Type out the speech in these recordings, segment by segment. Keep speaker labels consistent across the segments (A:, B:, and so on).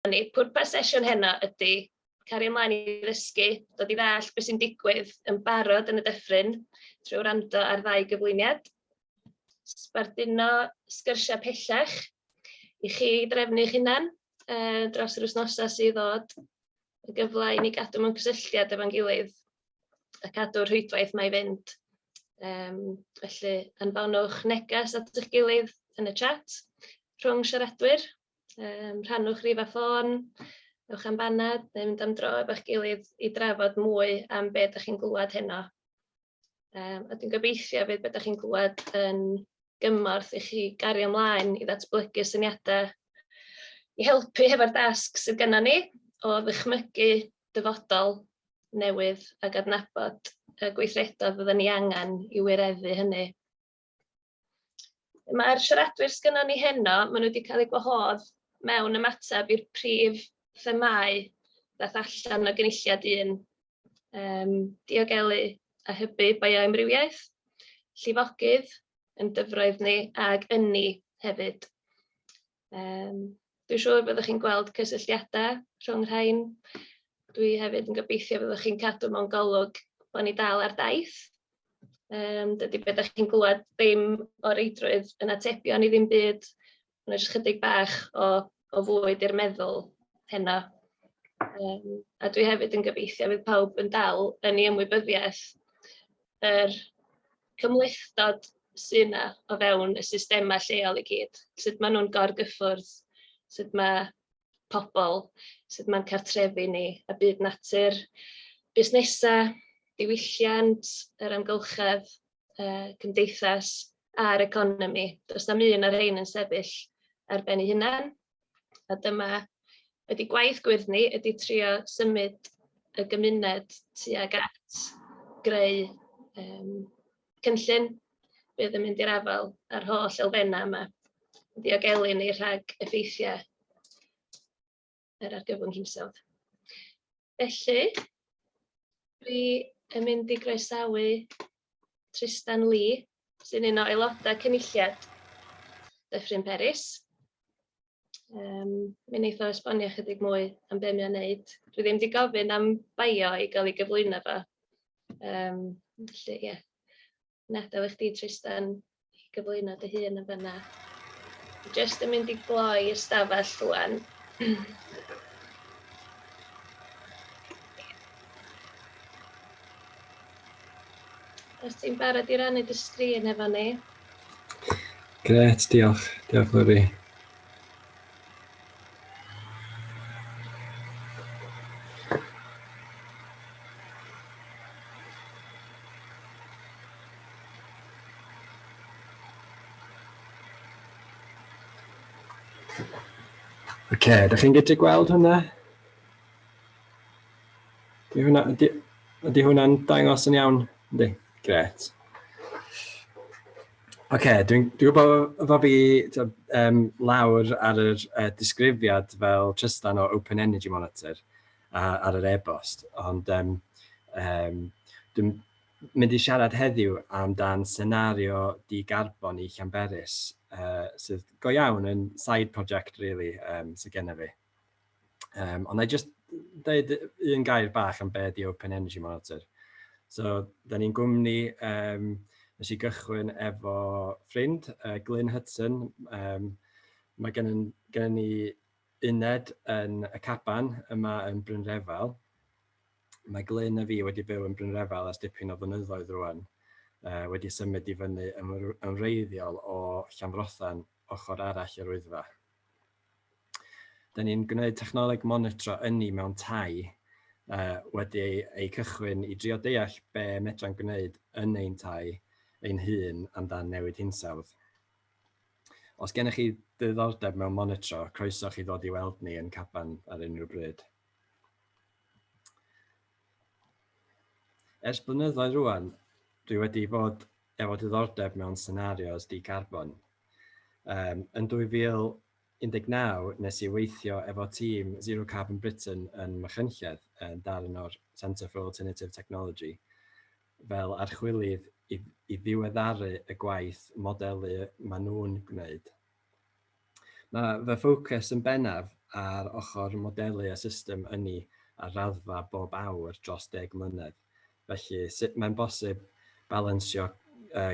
A: hynny. Pwrpas sesiwn heno ydy cario ymlaen i ddysgu, dod i ddall beth sy'n digwydd yn barod yn y dyffryn trwy wrando ar ddau gyflwyniad, sbarduno sgyrsiau pellach i chi drefnu'ch hunan uh, dros yr wythnosau sydd ddod, yn gyfle i ni gadw mewn cysylltiad efo'n gilydd a cadw'r rhwydwaith 'ma i fynd. Yym, felly anfonwch neges at eich gilydd yn y chat rhwng siaradwyr, yym, rhannwch rif a ffôn, ewch am banad neu mynd am dro efo'ch gilydd i drafod mwy am be dach chi'n glywed heno. Yym a dwi'n gobeithio hefyd be dach chi'n glywed yn gymorth i chi gario ymlaen i ddatblygu syniadau i helpu hefo'r dasg sydd gennym ni o ddychmygu dyfodol newydd ac adnabod y gweithredoedd fydden ni angen i wireddu hynny. Mae'r siaradwyr sgynnon ni heno, maen nhw wedi cael eu gwahodd mewn ymateb i'r prif themâu ddaeth allan o gynulliad un, um, diogelu a hybu bioamrywiaeth, llifogydd yn dyfroedd ni ag ynni hefyd. Yym, dwi'n siŵr fyddwch chi'n gweld cysylltiadau rhwng y rhain. Dwi hefyd yn gobeithio fyddwch chi'n cadw mewn golwg bod ni dal ar daith. Yym, dydy be dach chi'n glywed ddim o reidrwydd yn atebion i ddim byd, mae jyst chydig bach o o fwyd i'r meddwl heno. Yym, a dwi hefyd yn gobeithio fydd pawb yn dal yn ei ymwybyddiaeth yr cymhlethdod sy' 'na o fewn y systemau lleol i gyd, sut maen nhw'n gorgyffwrdd, sut ma' pobl, sut ma'n cartrefi ni, a byd natur, busnesau, diwylliant, yr amgylchedd, yy cymdeithas a'r economi. Does na'm un o'r rhein yn sefyll ar ben ei hunan. A dyma ydi gwaith gwyrdd ni, ydi trio symud y gymuned tuag at greu yym cynllun fydd yn mynd i'r afael â'r holl elfennau yma, yn diogelu ni rhag effeithiau yr argyfwng hinsawdd. Felly, dwi yn mynd i groesawu Tristan Lee. sy'n un o aelodau Cynulliad Dyffryn Peris. Um, mi wnaeth o esbonio chydig mwy am beth mae'n wneud. Dwi ddim wedi gofyn am bio i gael ei gyflwyno fo. Um, felly, ie. Yeah. Nadaw eich di, Tristan, i gyflwyno dy hun yn fyna. Just yn mynd i gloi ystafell rwan. Os ti'n barod i rannu dy sgrin efo ni.
B: Gret, diolch. Diolch, Lori. Oce, okay, ydych chi'n gallu gweld hwnna? Ydy hwnna, ydy, ydy hwnna'n dangos yn iawn? Ydy, gret. Oce, okay, dwi'n dwi gwybod fod fi um, lawr ar yr uh, disgrifiad fel Tristan o Open Energy Monitor uh, ar yr e-bost, ond um, um, dwi'n mynd i siarad heddiw amdan senario di-garbon i Llanberis, uh, sydd go iawn yn side project, really, um, sydd gennym fi. Um, ond na i jyst dweud un gair bach am be di Open Energy Monitor. So, da ni'n gwmni, um, nes i gychwyn efo ffrind, uh, Glyn Hudson. Um, mae gennym, gennym ni uned yn y Caban yma yn Brynrefel. Mae Glyn a fi wedi byw yn Brynrefel ers dipyn o fynyddoedd rwan uh, wedi symud i fyny yn wreiddiol o Llanfrothan ochr arall yr wyddfa. Da ni'n gwneud technoleg monitro ynni mewn tai uh, wedi ei, ei cychwyn i drio deall be medra'n gwneud yn ein tai ein hun amdan newid hinsawdd. Os gennych chi ddiddordeb mewn monitro, croeso chi ddod i weld ni yn Caban ar unrhyw bryd. Ers blynyddoedd rwan, dwi wedi bod efo diddordeb mewn scenarios di-carbon, Um, yn 2019, nes i weithio efo tîm Zero Carbon Britain yn Machynlleth, yn darn o'r Centre for Alternative Technology, fel archwilydd i, i ddiweddaru y gwaith modelu maen nhw'n gwneud. Mae fy ffocws yn bennaf ar ochr modelu y system ynni ar raddfa bob awr dros deg mlynedd. Felly, sut mae'n bosib balansio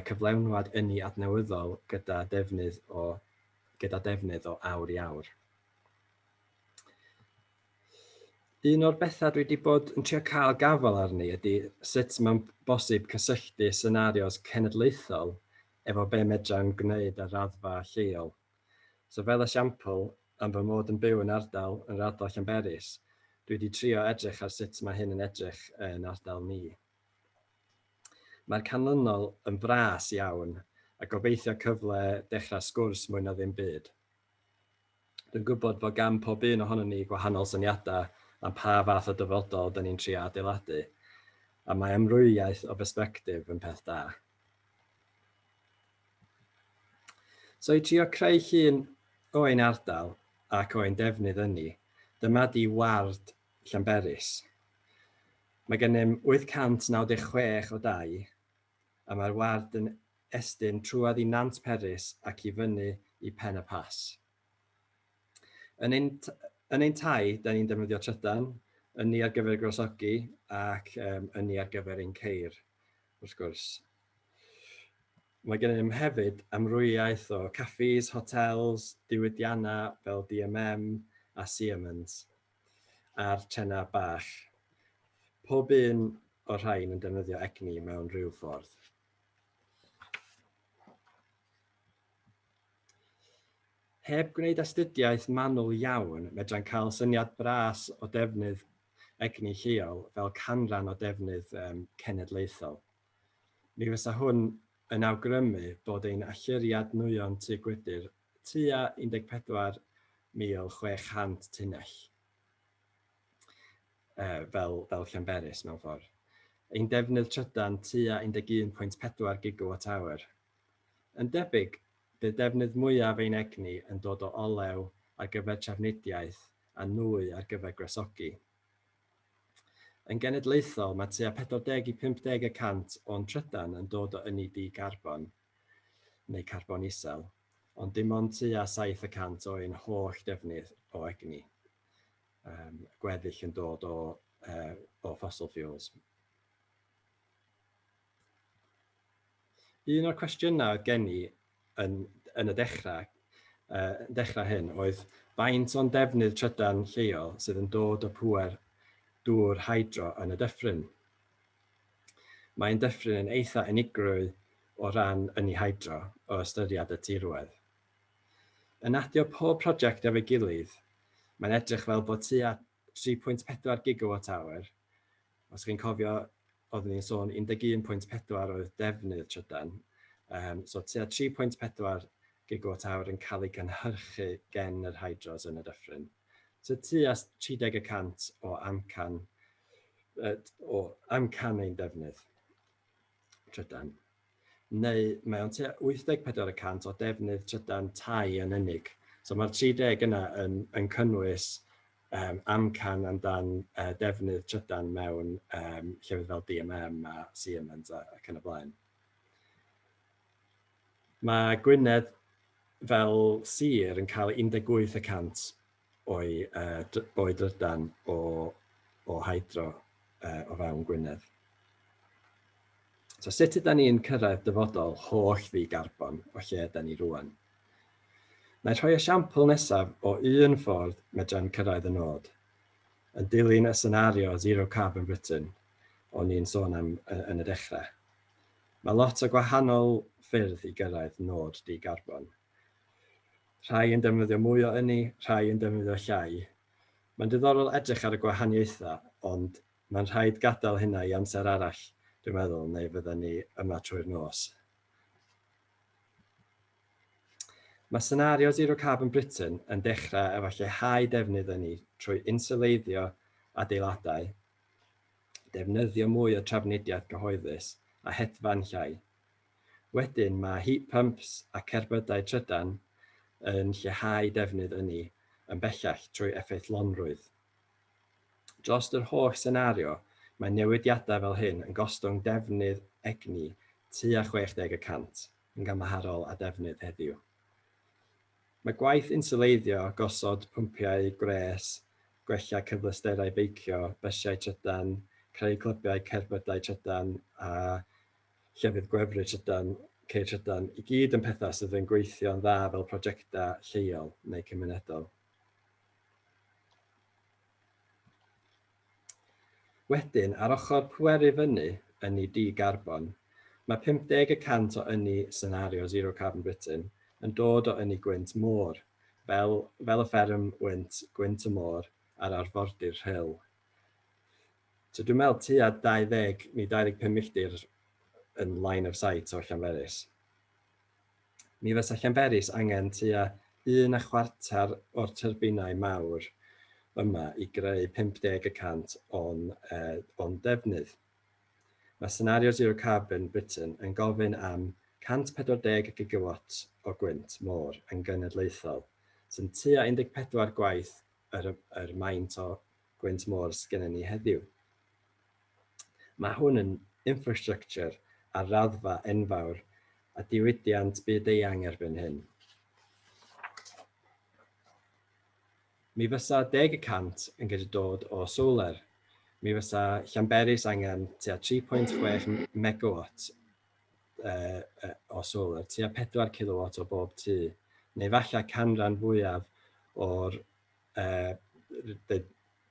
B: cyflenwad ynni adnewyddol gyda defnydd o gyda defnydd o awr i awr? Un o'r bethau dwi wedi bod yn trio cael gafael arni ydy sut mae'n bosib cysylltu senarios cenedlaethol efo be medra'n gwneud ar raddfa lleol. So fel esiampl, am fy mod yn byw yn ardal, yn yr ardal Llanberis, dwi 'di trio edrych ar sut mae hyn yn edrych yn ardal ni. Mae'r canlynol yn fras iawn, a gobeithio cyfle dechrau sgwrs mwy na ddim byd. Dwi'n gwybod bod gan pob un ohonon ni gwahanol syniadau am pa fath o dyfodol 'da ni'n trio adeiladu, a mae amrywiaeth o bersbectif yn peth da. So i trio creu llun o ein ardal ac o ein defnydd ynni, dyma di ward Llanberis. Mae gennym 896 o dai a mae'r ward yn estyn trwodd i Nant Peris ac i fyny i Pen-y-Pass. Yn ein, yn ein tai, da ni'n defnyddio trydan, ynni ar gyfer y gwresogi ac um, ynni ar gyfer ein ceir, wrth gwrs. Mae gennym hefyd amrywiaeth o caffis, hotels, diwydiannau fel DMM a Siemens a'r trenau bach. Pob un o'r rhain yn defnyddio egni mewn rhyw ffordd. Heb gwneud astudiaeth manwl iawn, medrai'n cael syniad bras o defnydd egni lleol fel canran o defnydd cenedlaethol. Mi fysa hwn yn awgrymu bod ein allyriad nwyon tŷ gwydr tua 14,600 tunnell, fel Llanberis mewn ffordd, ein defnydd trydan tua 11.4 gigawatt awr. Yn debyg, bydd defnydd mwyaf ein egni yn dod o olew ar gyfer trafnidiaeth a nwy ar gyfer gwresogi. Yn genedlaethol, mae tua 40 i 50 y cant o'n trydan yn dod o ynni di-garbon, neu carbon isel, ond dim ond tua 7 y cant o ein holl defnydd o egni, um, gweddill yn dod o, uh, o fossil fuels. Un o'r cwestiynau oedd gen i yn yn y dechrau, yy yn dechrau hyn, oedd faint o'n defnydd trydan lleol sydd yn dod o pŵer dŵr hydro yn y dyffryn. Mae'n dyffryn yn eitha unigrwy o ran ynni hydro o ystyried y tirwedd. Yn adio pob prosiect efo'i gilydd, mae'n edrych fel bod tua 3.4 gigawatt awr Os chi'n cofio, oeddwn i'n sôn 11.4 oedd defnydd trydan, um, so tua 3.4 gigawatt awr yn cael ei gynhyrchu gen yr hydros yn y dyffryn. So tua 30 y cant o amcan, o amcan ein defnydd. trydan, neu mae o'n tua 84 y cant o defnydd trydan tai yn unig. So mae'r 30 yna yn, yn cynnwys um, amcan amdan uh, defnydd trydan mewn um, llefydd fel DMM a Siemens ac yn y blaen. Mae Gwynedd fel sir yn cael 18 y cant o'i o'i drydan o o hydro o fewn Gwynedd. So sut yda ni'n cyrraedd dyfodol holl ddi garbon o lle yda ni rwan? Mae rhoi esiampl nesaf o un ffordd medra'n cyrraedd y nod, yn dilyn y senario Zero Carbon Britain o'n ni'n sôn am yn y dechrau. Mae lot o gwahanol ffyrdd i gyrraedd nod di garbon. Rhai yn defnyddio mwy o ynni, rhai yn defnyddio llai. Mae'n diddorol edrych ar y gwahaniaethau, ond mae'n rhaid gadael hynna i amser arall, dwi'n meddwl, neu fyddan ni yma trwy'r nos. Mae senario Zero Carbon Britain yn dechrau efo lleihau defnydd ynni trwy insyleiddio adeiladau, defnyddio mwy o trafnidiaeth gyhoeddus a hedfan llai. Wedyn mae heat pumps a cerbydau trydan yn lleihau defnydd ynni yn bellach trwy effeithlonrwydd. Dros yr holl senario, mae newidiadau fel hyn yn gostwng defnydd egni tua 60 y cant yn gymharol â defnydd heddiw. Mae gwaith inswleiddio, gosod pwmpiau gwres, gwella cyfleusterau beicio, bysiau trydan, creu clybiau cerbydau trydan a llefydd gwefru trydan, ceir trydan, i gyd yn pethau sydd yn gweithio'n dda fel prosiectau lleol neu cymunedol. Wedyn, ar ochr pweru fyny ynni di-garbon, mae 50 y cant o ynni senario Zero Carbon Britain yn dod o ynni gwynt môr, fel, fel y fferm wynt, gwynt y môr a'r arfordir rhyl. So dwi'n meddwl tua 20 neu 25 milltir yn line of sight o Llanberis. Mi fysa Llanberis angen tua un a chwarter o'r tyrbinau mawr yma i greu 50 y cant o'n, uh, o'n defnydd. Mae senario Zero Carbon Britain yn gofyn am 140 gigawatt o gwynt môr yn genedlaethol, sy'n tua 14 gwaith yr, yr maint o gwynt môr sgennyn ni heddiw. Mae hwn yn infrastructure ar raddfa enfawr a diwydiant byd-eang erbyn hyn. Mi fysa deg y cant yn gallu dod o solar. Mi fysa Llanberis angen tua 3.6 megawatt uh, uh, o solar, tua 4 kilowatt o bob tŷ, neu falle canran fwyaf o'r yy y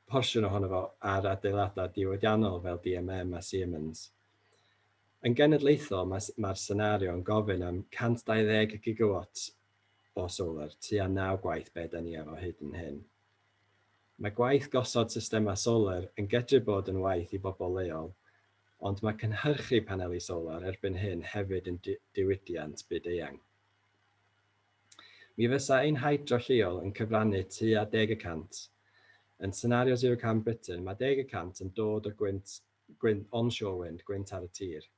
B: porsiwn ohono fo ar adeiladau diwydiannol fel DMM a Siemens. Yn genedlaethol, mae'r mae senario yn gofyn am 120 gigawatts o solar, tua naw gwaith be da ni efo hyd yn hyn. Mae gwaith gosod systemau solar yn gedru bod yn waith i bobl leol, ond mae cynhyrchu paneli solar erbyn hyn hefyd yn diwydiant byd-eang. Mi fysa ein hydro lleol yn cyfrannu tua deg y cant. Yn senario Zero Carbon Britain, mae deg y cant yn dod o gwynt, gwynt onshore wind, gwynt ar y tir.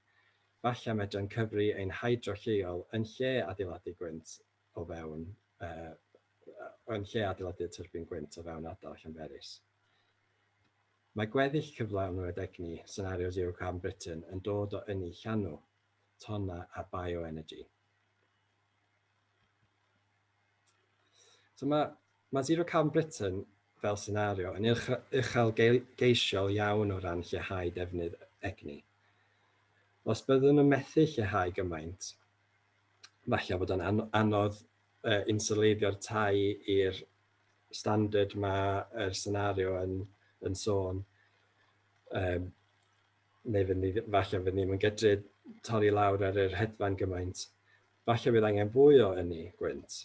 B: Falle medrai'n cyfri ein hydro lleol yn lle adeiladu gwynt o fewn, uh, yn lle adeiladu tyrbin gwynt o fewn ardal Llanberis. Mae gweddill cyflawnwyd egni senario Zero Carbon Britain yn dod o ynni llanw, tonna a bioenergy. So mae, mae Zero Carbon Britain fel senario yn uchel geisiol iawn o ran lleihau defnydd egni. Os byddwn nhw'n methu lleihau gymaint, falle bod o'n anodd uh, insuleiddio'r tai i'r standard mae'r er senario yn, yn sôn. Um, neu fyddwn ni ddim, falle fyddwn ni ddim yn gydru torri lawr ar yr hedfan gymaint. Falle bydd angen fwy o ynni gwynt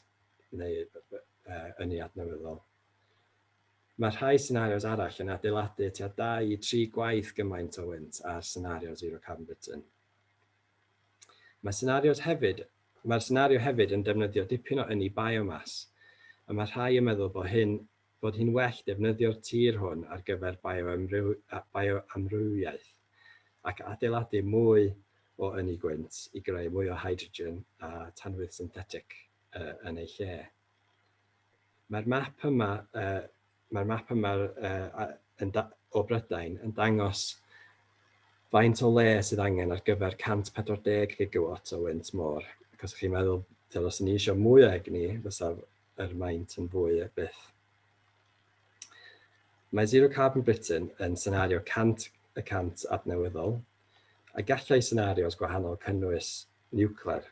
B: neu uh, ynni adnewyddol. Mae rhai senarios arall yn adeiladu tua 2 i 3 gwaith gymaint o wynt ar senario zero carbon button. Mae senarios hefyd, mae'r senario hefyd yn defnyddio dipyn o ynni biomas, a mae rhai yn meddwl bod hyn fod hi'n well defnyddio'r tir hwn ar gyfer bioamrywiaeth ac adeiladu mwy o ynni gwynt i greu mwy o hydrogen a tanwydd synthetic yn ei lle. Mae'r map yma, uh, mae'r map yma uh, yn o Brydain yn dangos faint o le sydd angen ar gyfer 140 gigawatt o wynt môr. Ac os ydych chi'n meddwl, os ni eisiau mwy o egni, fysa er maent yn fwy er byth. Mae Zero Carbon Britain yn senario 100 y cant adnewyddol, a gallai senarios gwahanol cynnwys niwclear.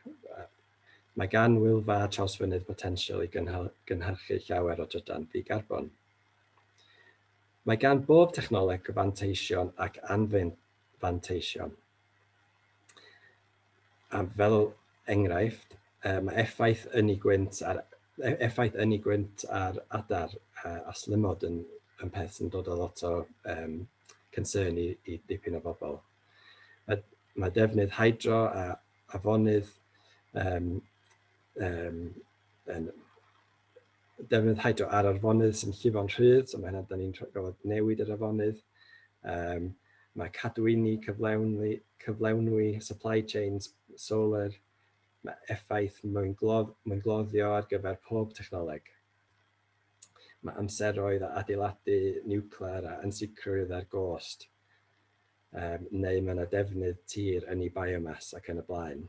B: Mae gan Wylfa Trawsfynydd potensial i gynhyrchu llawer o drydan ddi-garbon. Mae gan bob technoleg fanteision ac anfanteision. A fel enghraifft, mae effaith ynni gwynt ar effaith ynni gwynt ar adar a slymod yn yn peth sy'n dod â lot o yym concern i i dipyn o bobl. Mae mae defnydd hydro a afonydd yym yym yn defnydd hydro ar arfonydd sy'n llifo'n rhydd, so mae hynna, da ni'n gorfod newid yr afonydd. Um, mae cadwyni, cyflewni, cyflewnwi, supply chains, solar, mae effaith mwyn, glodd, mwyn gloddio ar gyfer pob technoleg. Mae amseroedd a adeiladu niwclear a ansicrwydd ar gost, um, neu mae yna defnydd tir yn ei biomas ac yn y blaen.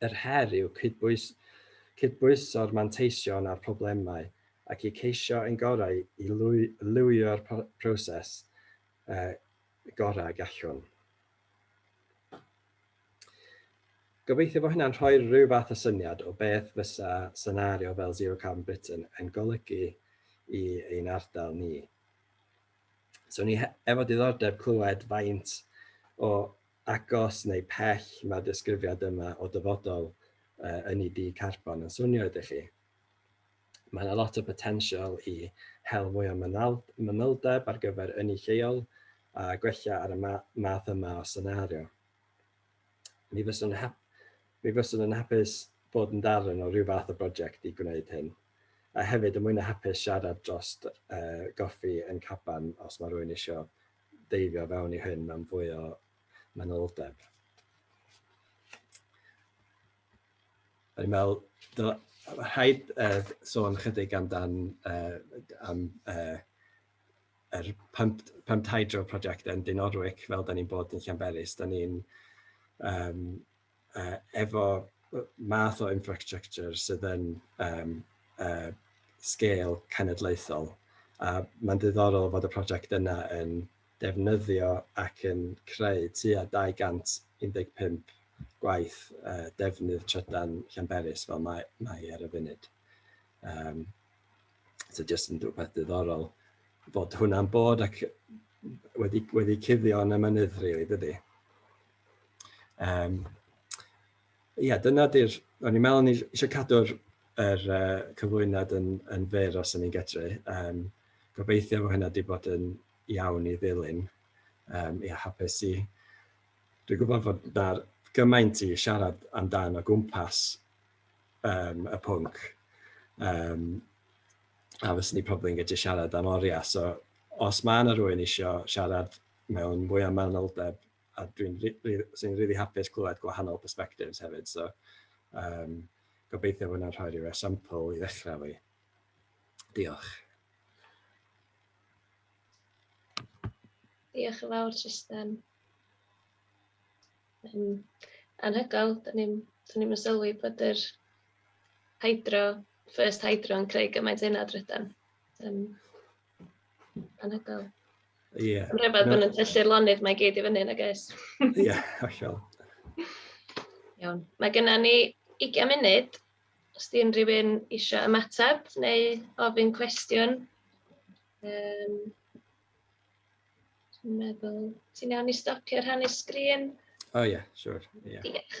B: Yr her yw cydbwys, cydbwyso'r manteision a'r problemau ac i ceisio ein gorau i lwy, lywio'r proses uh, gorau gallwn. Gobeithio bod hynna'n rhoi rhyw fath o syniad o beth fysa senario fel Zero Carbon Britain yn golygu i ein ardal ni. So ni efo diddordeb clywed faint o agos neu pell mae'r disgrifiad yma o dyfodol uh, ynni di carbon yn swnio ydych chi. Mae yna lot o potensial i hel mwy o mynyldeb ar gyfer ynni lleol a gwella ar y ma math yma o senario. Mi fyswn, hap mi fyswn yn hapus bod yn darn o rhyw fath o brosiect i gwneud hyn. A hefyd, y mwy na hapus siarad dros uh, goffi yn caban os mae rhywun eisiau deifio fewn i hyn mewn fwy o manyldeb. O'n i'n meddwl, dyla, rhaid uh, sôn chydig amdan uh, am uh, yr pump, pump hydro prosiect yn Dyn Orwic, fel da ni'n bod yn Llanberis, da ni'n um, uh, efo math o infrastructure sydd yn um, uh, sgêl cenedlaethol. A mae'n ddiddorol fod y prosiect yna yn defnyddio ac yn creu tua 215 gwaith uh, defnydd trydan Llanberis fel mae, mae ar y funud. Um, so jyst yn rhywbeth diddorol bod hwnna'n bod ac wedi, wedi cuddio yn y mynydd, rili, really, dydy. Um, ia, dyna di'r... O'n i'n meddwl ni eisiau cadw'r er, uh, cyflwyniad yn, yn fyr os o'n i'n gedru. Um, gobeithio bod hynna wedi bod yn iawn i ddilyn. Um, ia, hapus i... Dwi'n gwybod fod na'r gymaint i siarad amdan o gwmpas um, y pwnc. Um, a fes ni probably yn gallu siarad am oriau. So, os mae yna rhywun eisiau siarad mewn mwy o manoldeb a dwi'n sy'n rili hapus clywed gwahanol perspectives hefyd, so um, gobeithio bod yna'n rhoi rhyw esiampl i ddechrau fi. Diolch.
A: Diolch yn fawr, Tristan. Um, anhygoel, dyn ni'n ni, ni sylwi bod yr hydro, first hydro yn creu gymaint yna drydan. Um, Anhygoel. Ie. Yeah.
B: Mae'n rhyfedd bod yn tyllu'r
A: lonydd mae gyd i fyny, nag oes? Ie, yeah, hollol. Iawn. Mae genna ni 20 munud os di unrhyw un eisiau ymateb neu ofyn cwestiwn. Um, Dwi'n meddwl, ti'n iawn i stopio rhannu sgrin? O oh, ie, yeah, siwr.
B: Sure. Yeah. Diolch.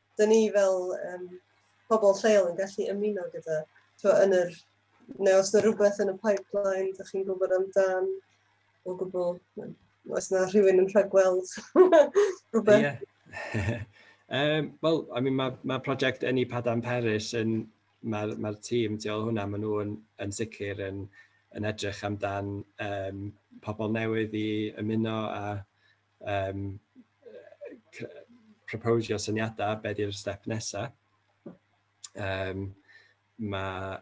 C: dyn ni fel um, pobl lleol yn gallu ymuno gyda, twa, yn yr, neu os yna rhywbeth yn y pipeline, dych chi'n gwybod amdan o gwbl, os yna rhywun yn rhagweld rhywbeth. Yeah. um,
B: Wel, I mean, mae ma prosiect Ynni Padam Peris yn, mae'r ma tîm tu ôl hwnna, maen nhw'n yn sicr yn, yn edrych amdan um, pobl newydd i ymuno a um, proposio syniadau, be di'r step nesaf. Um, mae,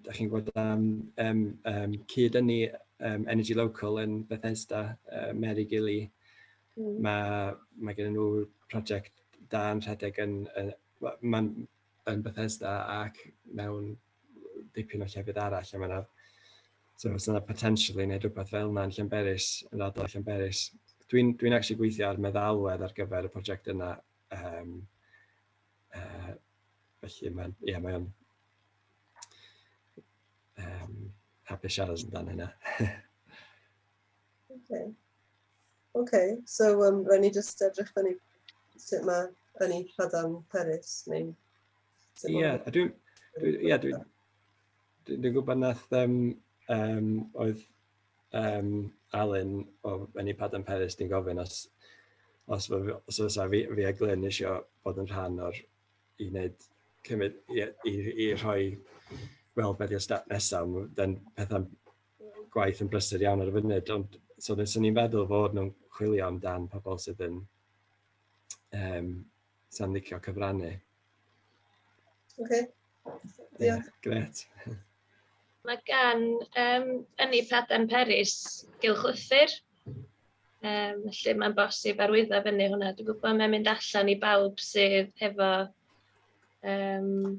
B: da chi'n gwybod am um, um, cyd ynni um, Energy Local yn Bethesda, uh, Mary Gilly. Mm. Mae, mae gen nhw prosiect da yn rhedeg yn, yn, yn, yn Bethesda ac mewn dipyn o llefydd arall lle mae 'na... so os oes 'na potential i wneud rywbeth fel yna yn Llanberis, yn yr ardal Llanberis. Dwi'n dwi'n acshyli gweithio ar meddalwedd ar gyfer y prosiect yna yym yy felly mae'n ia mae o'n yym hapus siarad amdan hynna . Okay.
C: Okay, so um, rhaid ni jyst edrych fyny sut mae fyny Lladam Peris, neu... Ie,
B: yeah, dwi'n... Ie, dwi'n... Dwi'n gwybod nath um, um, oedd um, Alun o Fenni Padam Peris di'n gofyn os os os os fi fi a Glyn eisiau bod yn rhan o'r i wneud cymryd i, i, i rhoi fel beth i'r step nesaf, dan pethau gwaith yn brysur iawn ar y funud, ond so nes o'n i'n feddwl fod nhw'n chwilio amdan pobl sydd yn um, sy'n licio cyfrannu. Oce.
C: Okay.
B: Diolch. Yeah, gret.
A: Mae gan um, Ynni Paden Peris gylchlythyr, um, felly mae'n bosib arwyddo fyny hwnna. Dwi'n gwybod mae'n mynd allan i bawb sydd hefo um,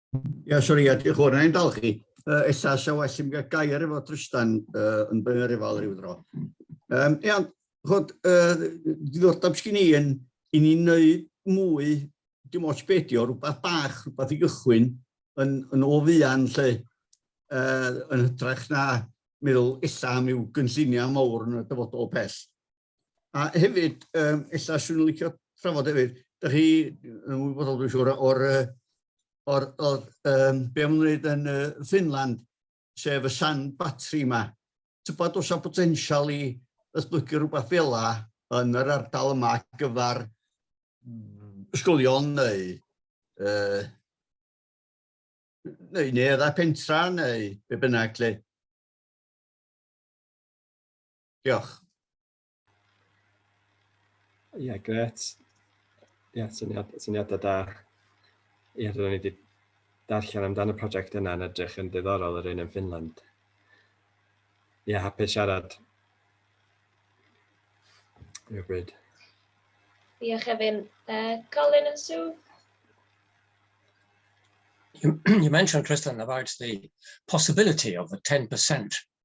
D: Ia, sori, ia, diolch o'r ein dal chi. Uh, ella sa well i mi gael gair efo Trystan uh, yn byn yr efal rhyw dro. Um, ia, chod, uh, diddordeb sgyn i yn i ni wneud mwy, dim ots beth di o, rhywbeth bach, rhywbeth i gychwyn yn, yn o fuan lle, uh, yn hytrach na meddwl illa am i'w gynlluniau mawr yn y dyfodol pell. A hefyd, um, illa swn i'n licio trafod hefyd, da chi yn wybodol dwi'n siŵr o'r, or, or, um, be am wneud yn uh, Finland, sef y sand battery yma. Tybod os a potensial i ysblygu rhywbeth fel la yn yr ardal yma gyfer ysgolion neu uh, neu neu edda pentra neu be bynnag lle. Diolch.
B: Ie, yeah, gret. Ie, yeah, syniad, syniadau da. Ie, yeah, rydyn ni wedi darllen amdano y prosiect yna yn edrych yn ddiddorol yr un yn Finland. Ie, yeah, hapus siarad. Rhywbryd. Diolch
A: Efin. Uh, Colin and Sue?
E: You, you mentioned, Tristan, about the possibility of a 10%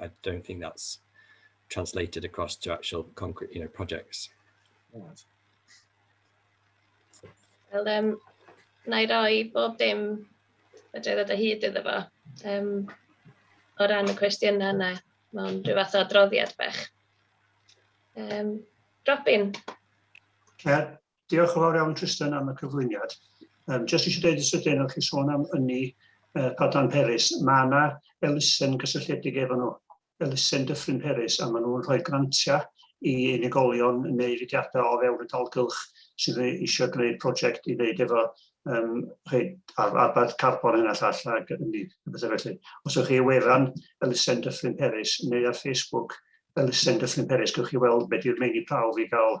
B: I don't think that's translated across to actual concrete, you know, projects. Right.
A: Wel, um, na i roi bob dim y dwi ddod o hyd iddo fo. Um, o ran y cwestiynau yna, mae'n rhyw fath o adroddiad bech. Um, Robin? Cer,
F: Diolch yn fawr iawn Tristan am y cyflwyniad. Um, just eisiau dweud yn sydyn, o'ch chi sôn am ynni uh, Padlan Peris, mae yna elusen gysylltiedig efo nhw, elusen Dyffryn Peris, a maen nhw'n rhoi grantiau i unigolion neu fudiadau o fewn y dalgylch sydd eisiau gwneud prosiect i wneud efo um, ar, arbad carbon hyn a llall ac ynni, bethau felly. Os ydych chi wefan elusen Dyffryn Peris neu ar Facebook elusen Dyffryn Peris, gwych chi weld beth yw'r meini prawf i gael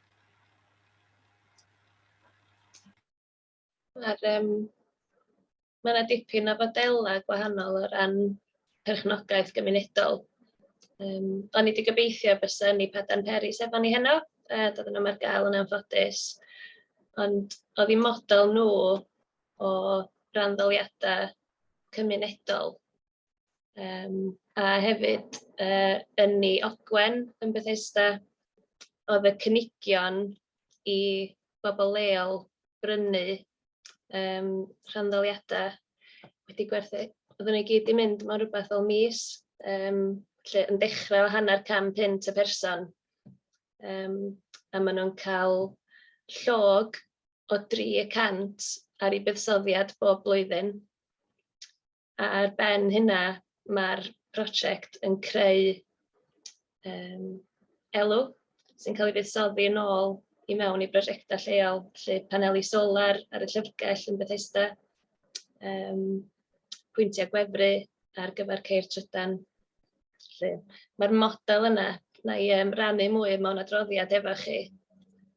A: Mae'r yym mae 'na dipyn o fodelau gwahanol o ran perchnogaeth gymunedol. Yym o'n i 'di gobeithio bysa Nipadan Peris efo ni heno, yy doedd o ddim ar gael yn anffodus. Ond oedd eu model nhw o wranddaliadau cymunedol... Um, a hefyd, uh, yn ni Ogwen yn Bethesda, oedd y cynigion i bobl leol brynu um, rhandaliadau wedi gwerthu. Oedden nhw i gyd i mynd mewn rhywbeth fel mis, um, lle yn dechrau o hanner cam pint y person. Um, a maen nhw'n cael llog o 300 ar ei buddsoddiad bob blwyddyn. A ar ben hynna, mae'r prosiect yn creu um, elw sy'n cael ei fuddsoddi yn ôl i mewn i brosiectau lleol, lle paneli solar ar y llyfrgell yn Bethesda, um, pwyntiau gwefru ar gyfer ceir trydan. Mae'r model yna, na i um, rannu mwy mewn adroddiad efo chi,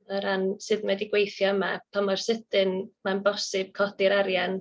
A: o ran sut mae wedi gweithio yma, pa mor sydyn mae'n bosib codi'r arian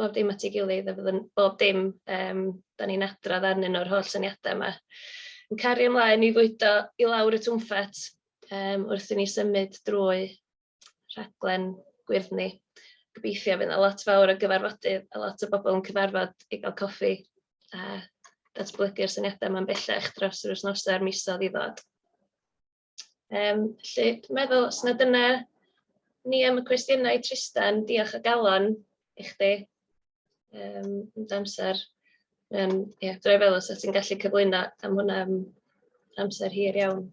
A: bob dim at ei gilydd a fyddwn bob dim yym 'dan ni'n adrodd arnyn nhw'r holl syniadau 'ma yn cario ymlaen i fwydo i lawr y twmpat yym wrth i ni symud drwy rhaglen gwyrddni. Gobeithio fydd 'na lot fawr o gyfarfodydd a lot o bobl yn cyfarfod i gael coffi a datblygu'r syniadau 'ma'n bellach dros yr wythnosau a'r misoedd i ddod. Um, felly, dwi'n meddwl, os na dyna ni am y cwestiynau, Tristan, diolch o galon i chdi um, yn amser. Um, ie, yeah, dwi'n meddwl os ti'n gallu cyflwyno am hwnna am amser hir iawn.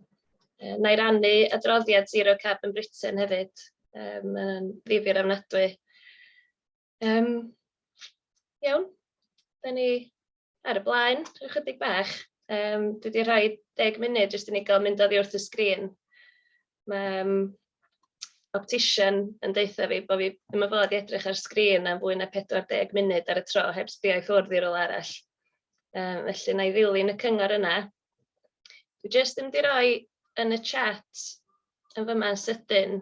A: Uh, na i rannu adroddiad Zero Carbon Britain hefyd, um, mae'n ddifir ofnadwy. Um, iawn, da ni ar y blaen, ychydig bach. Um, dwi wedi rhoi deg munud jyst i ni gael mynd oddi wrth y sgrin. Mae um, optician yn deutha fi bod fi ddim yn fod i edrych ar sgrin am fwy na 40 munud ar y tro heb sbio i ffwrdd i rôl arall. Um, felly na i ddilyn y cyngor yna Dwi jyst yn mynd i roi yn y chat yn fyma yn sydyn.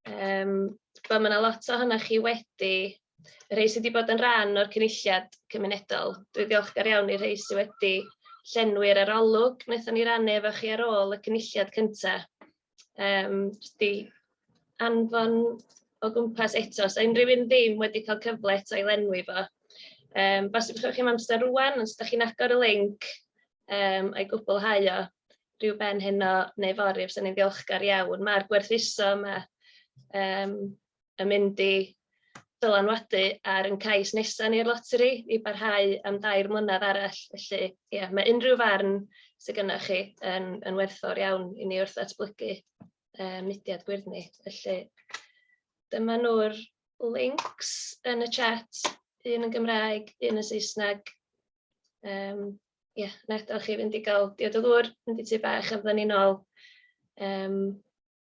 A: Um, mae yna lot o hynny chi wedi, y rhai sydd wedi bod yn rhan o'r cynulliad cymunedol. Dwi ddiolchgar iawn i'r rhai sydd wedi llenwi'r arolwg wnaethon ni rannu efo chi ar ôl y cynulliad cyntaf. Yym, jyst i anfon o gwmpas eto, os 'na unrhyw un ddim wedi cael cyfle eto i lenwi fo, yym, bosib os gwelwch chi'n amser rŵan, os dach chi'n agor y linc, yym, a'i gwblhau o ryw ben heno neu fory, fyswn i'n ddiolchgar iawn. Mae'r gwerthuso 'ma, yym... yn mynd i dylanwadu ar ein cais nesaf ni i'r loteri i barhau am dair mlynedd arall. Felly, ie, mae unrhyw farn sydd gennych chi yn, yn werthfawr iawn i ni wrth ddatblygu uh, mudiad gwyrddni. Felly, dyma nhw'r links yn y chat, un yn Gymraeg, un yn Saesneg. Um, ie, yeah, na, chi fynd i gael diod o ddŵr, mynd i tu bach a fydden ni'n ôl um,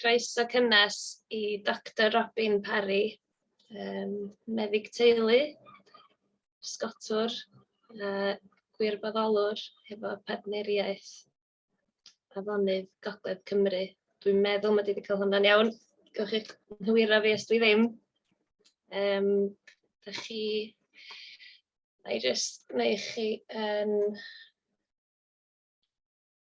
A: Croeso cynnes i Doctor Robin Parry, yym meddyg teulu, pysgotwr a gwirfoddolwr hefo partneriaeth afonydd Gogledd Cymru. Dwi'n meddwl mod i 'di cael hwnna'n iawn, gewch eich nghywiro fi os dwi ddim. Yym dach chi... wna i jyst gwneud chi yn...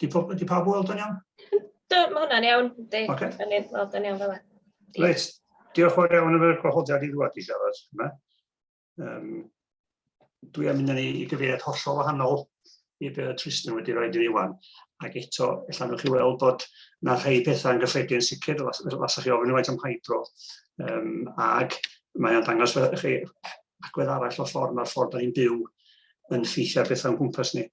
F: Di, po, di pawb weld o'n iawn? Do,
A: mae hwnna'n
F: iawn.
A: Di, okay. yn ei weld yn iawn fel e. Reit,
F: diolch o'r iawn efo'r gwahoddiad i ddwad i siarad yma. Um, dwi am mynd i gyfeiriad hollol wahanol i be oedd Tristan wedi rhoi dyn ni wan. Ac eto, allan nhw'ch chi weld bod na rhai pethau yn gyffredin sicr, lasach chi ofyn i faint am hydro. Um, ac mae'n dangos chi agwedd arall o'r ffordd, mae'r ffordd da ni'n byw yn ffeithio ar bethau o'n gwmpas ni.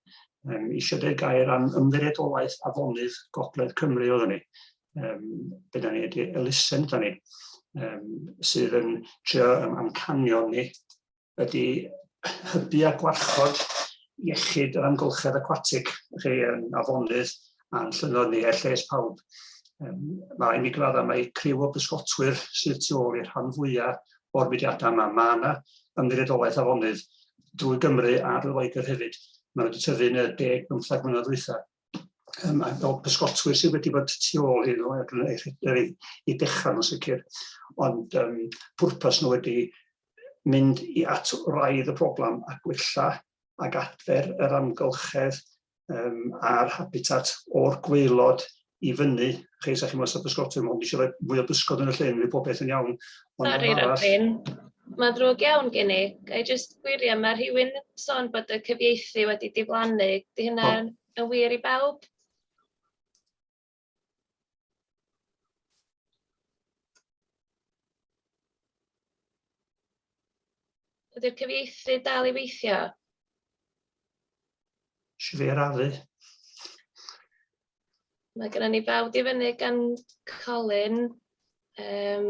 F: Um, eisiau dweud gair am ymddiriedolaeth afonydd Gogledd Cymru oedd ni. Um, be da ni wedi elusen da ni, um, sydd yn trio um, amcanio ni, ydy hybu a gwarchod iechyd yr amgylchedd aquatic, chi, um, afonydd, a'n llynnoedd ni er lles pawb. Um, mae mi gradda mae criw o bysgotwyr sydd tu ôl i'r rhan fwyaf o'r mudiadau yma. Mae yna ymddiriedolaeth afonydd drwy Gymru a drwy Loegr hefyd. Mae wedi tyfu yn y deg bymthag mlynedd ddwytha. Um, a fel pysgotwyr sydd wedi bod tu ôl hyn o ei, i dechrau nhw'n sicr. Ond um, pwrpas nhw wedi mynd i at raidd y problem a gwella ac adfer yr amgylchedd um, a'r habitat o'r gweilod i fyny. Chi, sa chi'n meddwl sef bysgotwyr, mae'n eisiau rhoi mwy o bysgod yn y llyn, mae pob beth yn iawn. Sori, Robin,
A: mae'n ddrwg iawn gen i. Ga i jyst gwiriau, mae rhywun yn sôn bod y cyfieithu wedi diflannu. Di hynna yn wir i bawb? Ydy'r cyfieithydd dal i weithio?
F: Sut fe arafu?
A: Mae gennym ni bawb di fyny gan Colin. Um,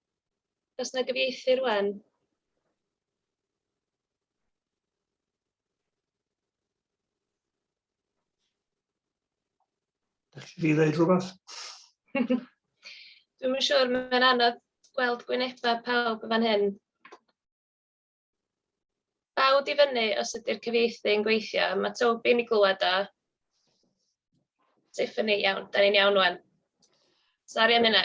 A: Os na gyfieithir wen.
F: Dych chi wedi dweud rhywbeth?
A: Dwi'n yn siŵr, mae'n anodd gweld gwynebau pawb fan hyn. Bawd i fyny os ydy'r cyfieithu yn gweithio. Mae Toby'n i glywed o. Tiffany, iawn, da ni'n iawn wan. Sari am hynna.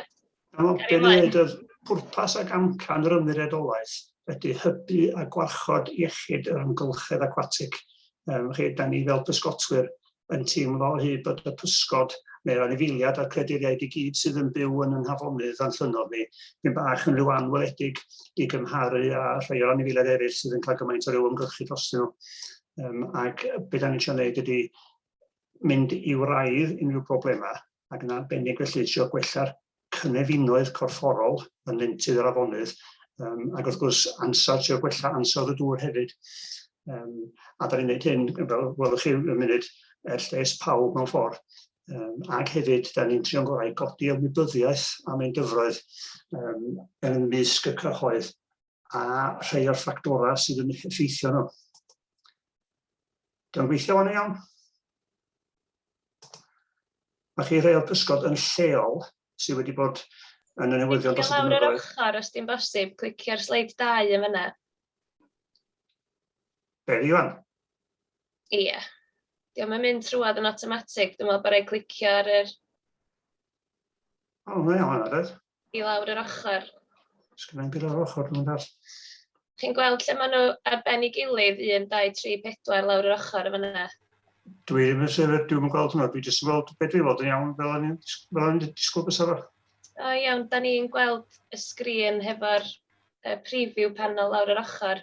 F: Dyna pwrpas ac amcan yr ymddiriedolaeth ydy hybu a gwarchod iechyd yr amgylchedd aquatic. Um, chi, da ni fel pysgotwyr yn teimlo o hyd bod y pysgod neu'r anifeiliad a'r creaduriaid i gyd sydd yn byw yn y nhafonydd a'n llynnodd ni, dipyn bach yn rhyw anweledig i gymharu â rhai o'r anifeiliaid eraill sydd yn cael gymaint o ryw ymgyrchu dros nhw. Um, ac beth da ni'n siarad wneud ydy mynd i wraidd unrhyw broblemau ac yn arbennig felly trio gwella'r cynefinoedd corfforol yn nentydd yr afonydd, um, ac wrth gwrs ansawdd, trio gwella ansawdd y dŵr hefyd. Um, a da ni'n gwneud hyn, fel welwch chi yn munud, er lles pawb mewn ffordd. Um, ac hefyd, da ni'n trio'n gorau godi ymwybyddiaeth am ein dyfroedd um, yn ymysg y cyhoedd a rhai o'r ffactorau sydd yn effeithio nhw. Dwi'n gweithio fan iawn. Mae chi rhai o'r pysgod yn lleol sydd wedi bod yn y newyddion dros y blynyddoedd. Lawr yr ochr, os di'n bosib,
A: clicio'r sleid 2 yn fyna.
F: Be, fi wan? Ie.
A: Yeah. Diolch yn mynd trwad yn automatic, dwi'n meddwl bod rhaid clicio ar yr... O,
F: mae o'n anodd. i lawr yr ochr.
A: Sgynna i'r
F: o'r ochr nhw'n dall. Chi'n gweld
A: lle maen nhw ar ben ei gilydd, 1, 2, 3, 4 lawr yr ochr yn fyna? Dwi ddim yn
F: sefyll, dwi'n yn gweld hwnna, dwi jyst yn gweld beth dwi'n fod yn iawn fel o'n i'n disgwyl bys arall. O iawn, da
A: ni'n gweld y sgrin hefo'r uh, preview panel lawr yr ochr.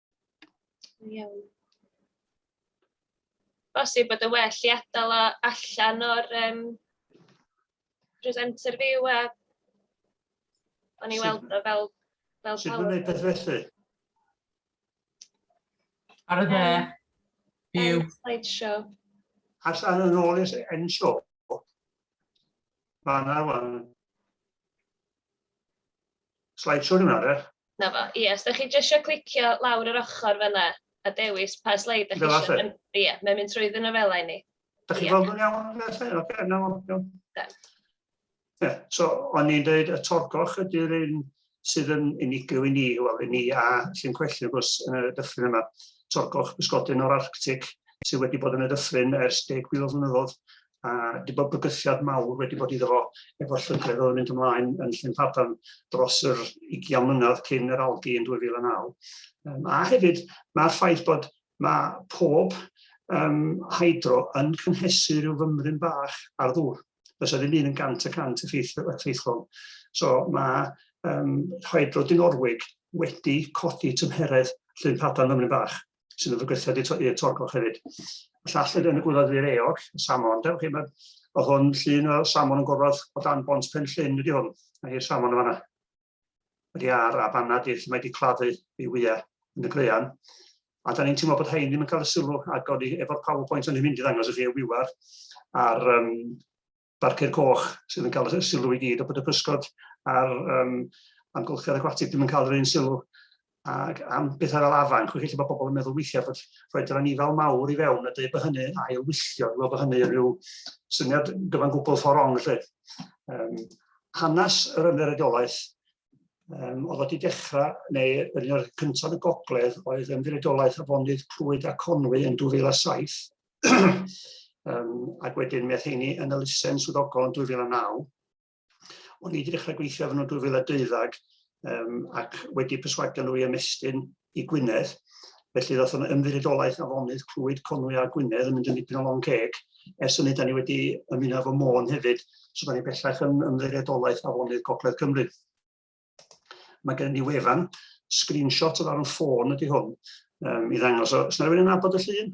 A: Iawn. Bosib bod yn well i adael o allan o'r um, presenter fyw a o'n i weld o fel, fel Sut mae'n gwneud
F: beth felly?
G: Ar y dde. Byw. Slideshow.
A: As ar
F: yn ôl i'r end show. Fanna wan. slideshow rhywun arall. 'Na fo, ie, os 'da chi
A: jyst isio clicio lawr yr ochr fan'na a dewis pa sleid 'da chi isio... Fel 'a 'lly? Ie, mae'n mynd trwy fy nofelau i ni. Da chi'n gweld nhw'n iawn
F: felly? Ocê, 'na fo, iawn. Da. Ie, so o'n i'n dweud y torgoch ydy'r un sydd yn unigryw i ni, wel i ni a Llyn Cwellyn wrth gwrs yn y dyffryn yma. Torgoch bysgodyn o'r Arctic sydd wedi bod yn y dyffryn ers deg mil o flynyddoedd a wedi bod bygythiad mawr wedi bod iddo fo efo llygredd oedd yn mynd ymlaen yn Llyn Padarn dros yr 20 mlynedd cyn yr algi yn 2009. Um, a hefyd mae'r ffaith bod mae pob um, hydro yn cynhesu rhyw fymryn bach ar ddŵr. Fysa ddim un yn gant y cant effeithlon. So mae um, hydro Dinorwig wedi codi tymheredd Llyn Padarn fymryn bach. sydd yn gweithio wedi i'r torgoch hefyd. Llall yn y gwylod i'r eog, y samon, dewch chi, mae hwn llun o samon yn gorfod o dan bont pen llun wedi hwn. Mae hi'r samon yma. Wedi ar a fanna di, lle mae wedi claddu ei wyau yn y greian. A da ni'n teimlo bod hein ddim yn cael y sylw ac o'n i efo'r PowerPoint o'n i'n mynd i ddangos i chi y wiwar a'r um, barciau coch sydd yn cael y sylw i gyd, a bod y pysgod a'r um, amgylchedd aquatic ddim yn cael yr un sylw. Ac am bethau fel afan, chwch chi, mae pobl yn meddwl weithiau bod rhoi yr anifail mawr i fewn a dweud bod hynny ail wylltio, fel bod hynny yn rhyw syniad gyfan gwbl ffordd rong, lle. Um, hanes yr ymddiriedolaeth um, oedd wedi dechrau, neu yn un o'r cyntaf y gogledd, oedd ymddiriedolaeth afonydd Clwyd a Conwy yn 2007, um, ac wedyn meth heini yn y lusen swyddogol yn 2009. O'n i wedi dechrau gweithio efo nhw 2012 um, ac wedi perswadio nhw i ymestyn i Gwynedd. Felly ddoth o'n ymddiriedolaeth afonydd Clwyd Conwy a Gwynedd yn mynd yn dipyn o long ceg. Ers hynny, da ni wedi ymuno efo Môn hefyd, so da ni bellach yn ymddiriedolaeth afonydd Gogledd Cymru. Mae gen i wefan, screenshot o ran ffôn ydy hwn, um, i ddangos. So, os na rhywun yn abod y llun?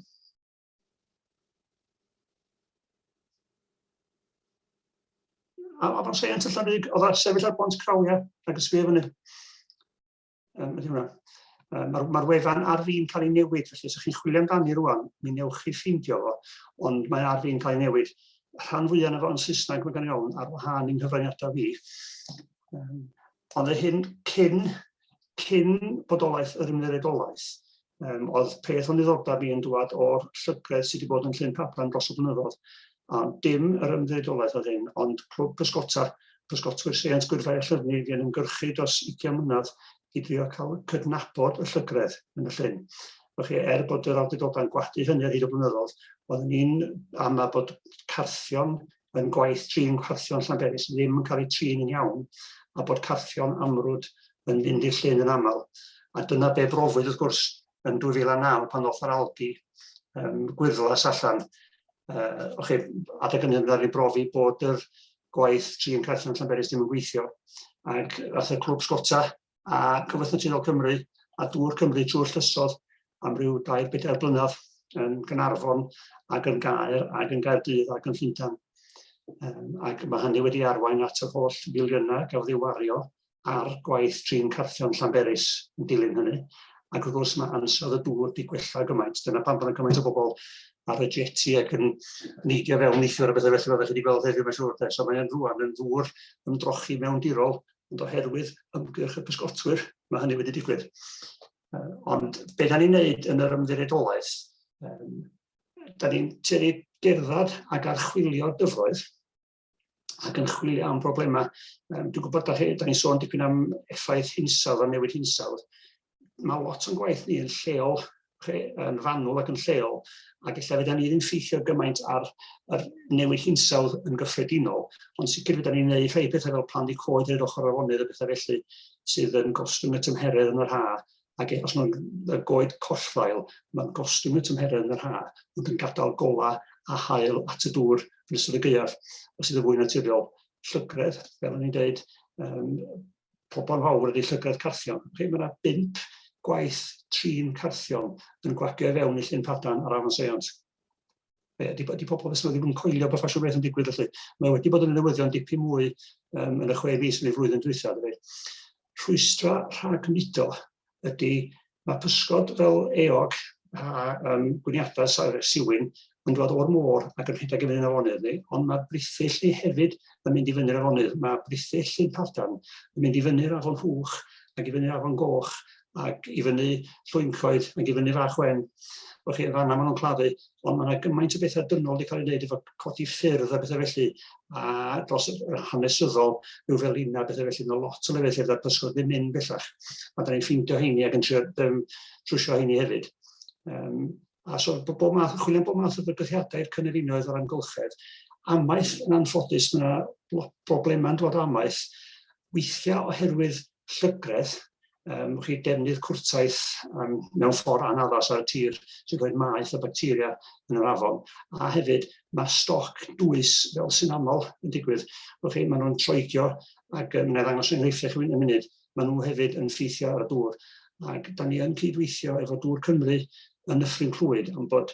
F: A, a fan seient allan rhywun, oedd ar sefyll ar bont crawiau ac ysgrifennu fyny. Um, ydy hwnna. Um, Mae'r ma wefan ar fi'n cael ei newid, felly os ydych chi'n chwilio amdani rwan, mi newch chi ffeindio fo, ond mae ar fi'n cael ei newid. Rhan fwyaf yn efo yn Saesneg, mae gen i ofn, ar wahân i'n nghyfraniadau fi. Um, ond y hyn cyn, cyn bodolaeth yr ymddiriedolaeth, um, oedd peth o'n ddiddordeb i yn dwad o'r llygredd sydd wedi bod yn llun paplan dros y blynyddoedd, a dim yr ymddiriedolaeth oedd hyn, ond clwb pysgota, pysgotwyr seiant gwyrfau a llyfni fi yn ymgyrchu dros 20 mlynedd i drio cael cydnabod y llygredd yn y llun. Felly, er bod yr awdurdodau'n gwadu hynny ar hyd y blynyddoedd, oeddwn ni'n ama bod carthion yn gwaith trin carthion Llanberis sydd ddim yn cael eu trin yn iawn a bod carthion amrwd yn fynd i'r llyn yn aml. A dyna be brofwyd wrth gwrs yn 2009 pan ddoth yr algi um, gwyrddlas allan. Uh, o'ch chi, adeg yn hynny i brofi bod yr gwaith trin carthion Llanberis ddim yn gweithio. Ac ath y clwb sgota a Cyfoeth Naturiol Cymru a Dŵr Cymru trwy'r llysoedd am ryw dair bedair blynedd yn Gynarfon ac yn Gaer ac yn Gaerdydd ac yn Llundain. Um, ac mae hynny wedi arwain at yr holl filiynau gafodd ei wario ar gwaith trin carthion Llanberis yn dilyn hynny. Ac wrth gwrs mae ansawdd y dŵr wedi gwella gymaint. Dyna pam bod yna gymaint o bobl ar y jeti ac yn neidio fewn neithiwr a bethau felly, fel chi wedi gweld heddiw mae'n siŵr. So mae'n rwan yn ddŵr ymdrochi mewn dirol ond oherwydd ymgyrch y pysgotwyr, mae hynny wedi digwydd. Ond be da ni'n neud yn yr ymddiriedolaeth, da ni'n tueddu gerdded ac archwilio dyfroedd ac yn chwilio am broblemau. Dwi'n gwybod da ni'n sôn dipyn am effaith hinsawdd a newid hinsawdd, mae lot o'n gwaith ni yn lleol, yn fanwl ac yn lleol, ac efallai fydda ni ddim ffeithio gymaint ar yr newid hinsawdd yn gyffredinol, ond sicr fydda ni'n gwneud rhai pethau fel plannu coed i'r ochr afonydd a bethau felly sydd yn gostwng y tymheredd yn yr ha, ac e, os mae'n goed collfael, mae'n gostwng y tymheredd yn yr ha, ond yn gadael gola a hael at y dŵr yn ystod y gaeaf, os sydd yn fwy naturiol, llygredd, fel o'n i'n dweud, um, pobl fawr ydy llygredd carthion. Chi, mae yna bimp gwaith trin carthion yn gwagio i fewn i llun padan ar afon Seiont. Be, ydy, ydy pobl fes wedi bod yn coelio bod ffasiwn beth yn digwydd felly. Mae wedi bod yn newyddion dipyn mwy um, yn y chwe fis yn ei flwyddyn dwythaf. Rhwystra rhag mudo ydy mae pysgod fel eog a um, gwniadau siwyn yn dod o'r môr ac yn rhedeg i fyny'r afonydd ni, ond mae brithyll ni hefyd yn mynd i fyny'r afonydd. Mae brithyll Llyn Padarn yn mynd i fyny'r afon Hwch ac i fyny'r afon Goch ac i fyny Llwyncoed ac i fyny Fach Wen. Felly, fanna maen nhw'n claddu. Wel, mae yna gymaint o bethau dynol wedi cael ei wneud efo codi ffyrdd a bethau felly, a dros yr hanesyddol, rhyw fel un a bethau felly, mae lot o lefydd lle fydda'r pysgod ddim mynd bellach. A da ni'n ffeindio heini ac yn trio um, trwsio heini hefyd. Um, a so, bob math, chwilio'n bob math o fygythiadau i'r cynefinoedd o'r amgylchedd. Amaeth yn anffodus, mae yna broblemau'n dod amaeth, weithiau oherwydd llygredd, um, chi defnydd cwrtaeth um, mewn ffordd anaddas ar y tir sy'n rhoi maeth o bacteria yn yr afon. A hefyd, mae stoc dwys, fel sy'n aml yn digwydd, chi, maen nhw'n troigio ac um, wneud angos enghreiffau chi yn y munud, maen nhw hefyd yn ffeithio ar y dŵr. Ac da ni yn cydweithio efo Dŵr Cymru yn y ffrinclwyd am bod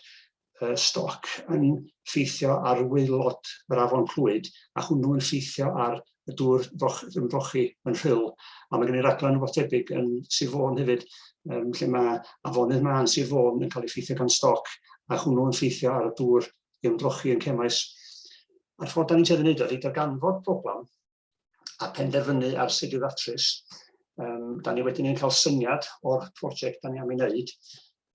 F: uh, stoc yn ffeithio ar waelod yr afon Clwyd, a hwnnw yn ffeithio ar y dŵr ymdrochi yn rhyl. A mae gen i raglen rhywbeth debyg yn Sir Fôn hefyd, um, lle mae afonydd ma yn Sir Fôn yn cael ei ffeithio gan stoc, a hwnnw yn ffeithio ar y dŵr ymdrochi yn cemais. A'r ffordd da ni'n tueddu wneud o ydy darganfod problem, a penderfynu ar sut i ddatrys. Um, da ni wedyn yn cael syniad o'r prosiect da ni am ei wneud.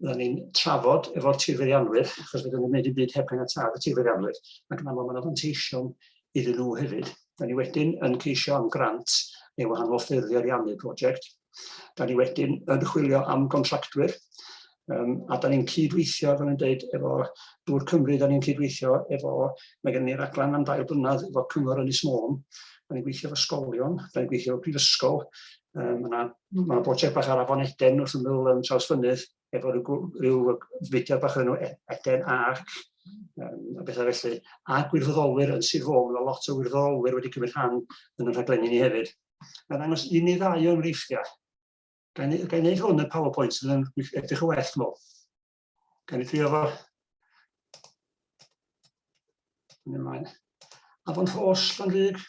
F: Da ni'n trafod efo'r tirfeiddianwyr, achos fydden ni'n gwneud y byd heb yn tad y tirfeiddianwyr, ac yn aml mae'n ofanteision iddyn nhw hefyd. Da ni wedyn yn ceisio am grant neu wahanol ffyrdd i ariannu prosiect. Da ni wedyn yn chwilio am gontractwyr, um, a da ni'n cydweithio, fel yn dweud, efo Dŵr Cymru, da ni'n cydweithio efo, mae gen ni raglen am dair blynedd efo Cyngor Ynys Môn, da ni'n gweithio efo sgolion, da ni'n gweithio efo prifysgol, um, mae yna brosiect bach ar afon Eden wrth ymyl um, traws fynydd, efo rhyw, rhyw fudiad bach o'r enw e-, Eden Arc, um, a bethau felly, a gwirfoddolwyr yn Sir Fôn, mae lot o wirfoddolwyr wedi cymryd rhan yn y rhaglenni ni hefyd. Mae'n ddangos un neu ddau o enghreifftiau. Ga i wneud hwn yn PowerPoint sydd yn edrych yn well, dwi'n meddwl. Ga i drio fo. Yn ymlaen. Afon Hos, Llanrug.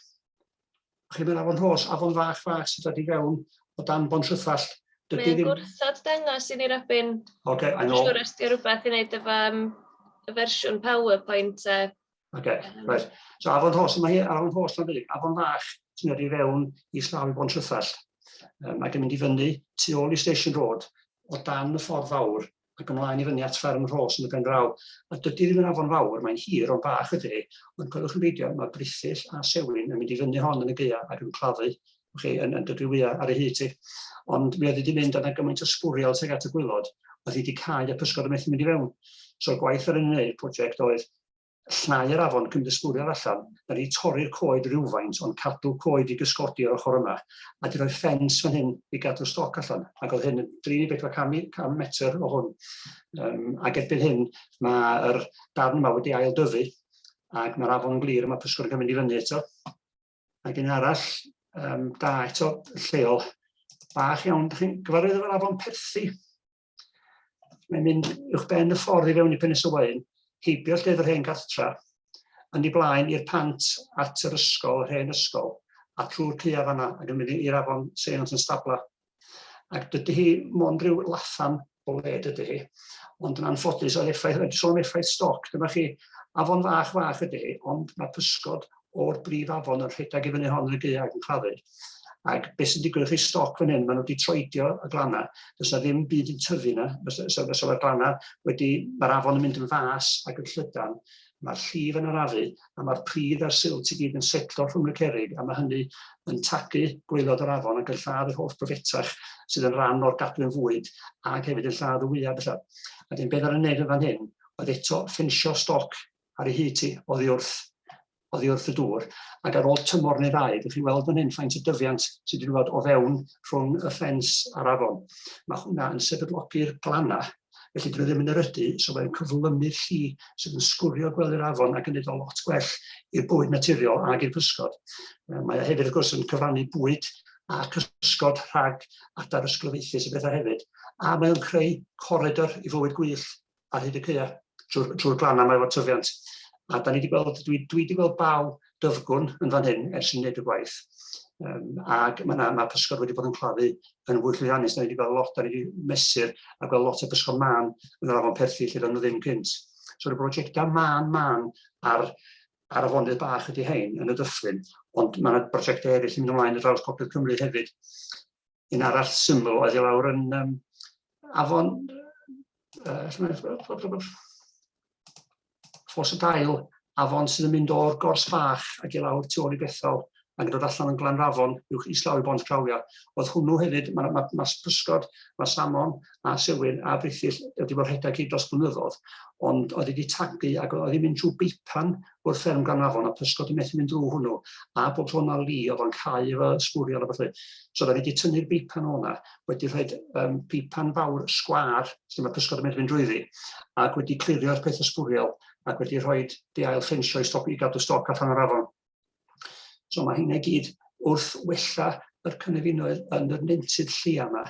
F: Chi mynd Afon Hos, Afon Fach Fach sydd wedi fewn o dan Bon Rhythall. Mae'n ddim... gwrthod
A: dangos i ni Robin. Oce, okay, I know. Siwr
F: os di rhywbeth i
A: wneud efo um, y fersiwn PowerPoint uh, Okay,
F: right. So afon hos, mae hi ar afon hos yn dweud, afon fach sy'n edrych fewn i slaw i bo'n trwythall. Um, ac yn mynd i fyny tu ôl i Station Road, o dan y ffordd fawr, ac ymlaen i fyny at fferm Rhos yn y pen draw. A dydy ddim yn afon fawr, mae'n hir o'n bach ydy, ond coelwch yn beidio, mae brithyll a sewin yn mynd i fyny hon yn y geia ac yn claddu chi, yn, yn dydw wyau ar y hyd ti. Ond mi oedd wedi mynd yna gymaint o sbwriel tuag at y gwylod, oedd hi wedi cael y pysgod yn methu mynd i fewn. So'r gwaith ar yn ei prosiect oedd llnau yr afon cymddisgwriad allan na di torri'r coed rywfaint ond cadw coed i gysgodi yr ochr yma a di rhoi ffens fan hyn i gadw stoc allan ac oedd hyn yn dri neu bedwar cam i- cam metr o hwn yym ac erbyn hyn mae yr darn yma wedi ail dyfu ac mae'r afon yn glir a mae pysgod yn cael mynd i fyny eto ac un arall yym da eto lleol bach iawn dych chi'n gyfarwydd efo'r afon Perthi Mae'n mynd uwch ben y ffordd i fewn i Penes y Waun, heibio llyfr yr hen gartra, yn ei blaen i'r pant at yr ysgol, yr hen ysgol, a trwy'r cua fanna ac yn mynd i'r afon Seions yn stabla. Ac dydy hi mond rhyw laffan o le dydy hi, ond yn anffodus oedd effaith, rhaid sôn effaith stoc, dyma chi, afon fach fach ydy hi, ond mae pysgod o'r brif afon yn rhedeg i fyny hon yn y gaeau ac yn claddu. Ac beth sy'n digwydd chi stoc fan hyn, maen nhw wedi troedio y glannau, does yna ddim byd yn tyfu yna, fysa mae'r glannau wedi, mae'r afon yn mynd yn fas ac yn llydan, mae'r llif yn arafu a mae'r pridd a'r silt i gyd yn setlo rhwng y cerig a mae hynny yn tagu gweilod yr afon ac yn lladd yr holl bryfetach sydd yn rhan o'r gadwyn fwyd ac hefyd yn lladd y wyau bellach. A dyn beth ar y neud yn fan hyn oedd eto ffensio stoc ar ei hyd hi, oddi wrth, oddi wrth y dŵr, ac ar ôl tymor neu ddau, ydych chi'n weld fan hyn faint y dyfiant sydd wedi bod o fewn rhwng y ffens a'r afon. Mae hwnna yn sefydlogi'r glannau, felly dyn nhw ddim yn erydu, so mae'n cyflymu'r lli sydd yn sgwrio gwely'r afon ac yn neud o lot gwell i'r bwyd naturiol ac i'r cysgod. Mae o hefyd, wrth gwrs, yn cyfrannu bwyd a cysgod rhag adar ysglyfaethus y bethau hefyd, a mae o'n creu coridor i fywyd gwyllt ar hyd y caeau, trwy'r trwy glannau mae efo tyfiant. A da ni wedi gweld, dwi, dwi wedi gweld baw dyfgwn yn fan hyn ers yn wneud y gwaith. Um, ac mae yna ma pysgod wedi bod yn claddu yn fwy llwyddiannus. Da ni wedi gweld lot, da ni wedi mesur a gweld lot o bysgod man yn yr afon perthi lle doedd nhw ddim cynt. So y brosiectau man man ar, ar afonydd bach ydy hein yn y dyffryn, ond mae yna brosiectau eraill yn mynd ymlaen yn draws popeth Cymru hefyd. Un arall syml oedd i lawr yn um, afon ffos y dail afon sydd yn mynd o'r gors fach ac i lawr tu ôl i Bethel ac yn dod allan yn Glanrafon uwch islaw i Bont Grawia. Oedd hwnnw hefyd, mae ma, ma pysgod, mae salmon a sewyn a brithyll wedi bod rhedeg hyd dros blynyddoedd, ond oedd wedi tagu ac oedd hi'n mynd trwy beipan wrth fferm Glanafon, a pysgod yn methu mynd drwy hwnnw, a bob tro mae Lee oedd o'n cau efo sbwriel a fath So oedden ni wedi tynnu'r beipan o'na, wedi rhoi um, beipan fawr sgwar, lle mae pysgod yn mynd fynd drwyddi, ac wedi clirio'r peth o sbwriel, ac wedi rhoi di ail ffensio i, stop, i gadw stoc allan o'r afon. So mae hynna gyd wrth wella yr cynefinoedd yn yr nentydd lleia yma.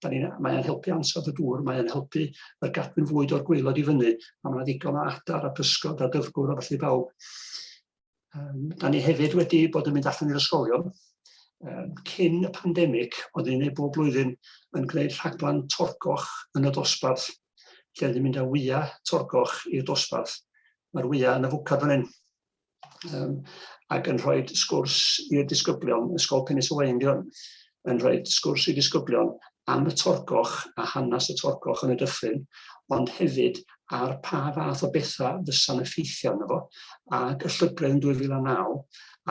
F: Mae e'n helpu ansawdd y dŵr, mae e'n helpu yr gadwyn fwyd o'r gweilod i fyny, a mae yna ddigon o adar a pysgod a dyfgwr a felly bawb. Um, da ni hefyd wedi bod yn mynd allan i'r ysgolion, um, cyn y pandemig, oedd ni'n ei bob blwyddyn yn gwneud rhaglen torgoch yn y dosbarth, lle oedd ni'n mynd â wyau torgoch i'r dosbarth. Mae'r wyau yn y fwcad fan hyn. um, ac yn rhoi sgwrs i'r disgyblion, Ysgol Penis y Wain di hwn, yn rhoi sgwrs i'r disgyblion am y torgoch a hanes y torgoch yn y dyffryn, ond hefyd ar pa fath o bethau fysa'n effeithio arno fo, ac y llygredd yn 2009,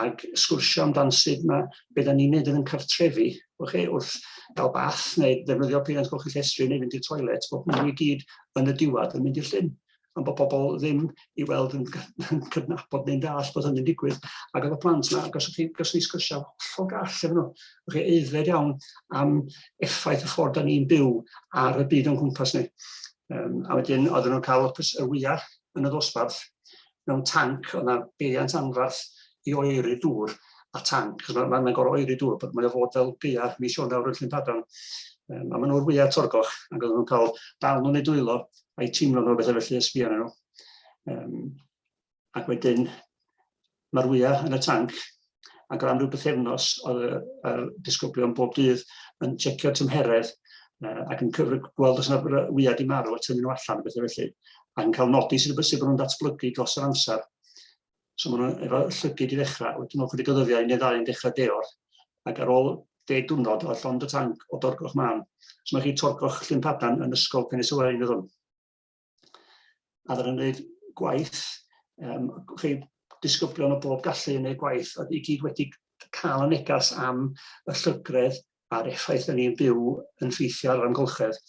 F: ac sgwrsio amdan sut mae beth da ni'n neud yn cartrefi, chi, wrth gael bath neu ddefnyddio peiriant golchi llestri neu fynd i'r toilet, bod hwnnw i gyd yn y diwedd yn mynd i'r llyn. am bod pobl ddim i weld yn, yn cydnabod neu'n dall bod hynny'n digwydd. Ac oedd y plant yna, goswch chi, goswch chi sgyrsiau hollol gall efo nhw. Oedd chi eiddfed iawn am effaith y ffordd da ni'n byw ar y byd o'n cwmpas ni. Um, a wedyn oedden nhw'n cael opus y wyau yn y ddosbarth mewn tanc, oedd yna beiriant anfarth i oeri dŵr a tanc, cos mae'n ma, ma gorau oeri dŵr, bod mae'n fod fel geia mis Ionawr yn Llyn Padarn. Um, a maen nhw'r wyau torgoch, ac oedden nhw'n cael dal nhw'n ei dwylo a'i teimlo fel bethau felly, ysbi arnyn nhw. Um, ac wedyn, mae'r wyau yn y tanc, ac o am ryw bythefnos oedd y, y disgyblion bob dydd yn checio tymheredd uh, ac yn cyfrif gweld os yna wyau di marw a tynnu nhw allan, bethau felly, ac yn cael nodi sydd wedi bod nhw'n datblygu dros yr amser. So maen nhw'n efo llygyd i ddechrau, wedyn ôl chydig o ddyddiau i neu ddau yn dechrau deor, ac ar ôl deg diwrnod o llond y tanc o dorgoch mân, so mae chi torgoch Llyn Padarn yn ysgol Penis y Waun hwn. A ddyn nhw'n gwneud gwaith, um, chi disgyblion o bob gallu yn gwneud gwaith, a i gyd wedi cael y negas am y llygredd a'r effaith yn ni'n byw yn ffeithio ar yr amgylchedd.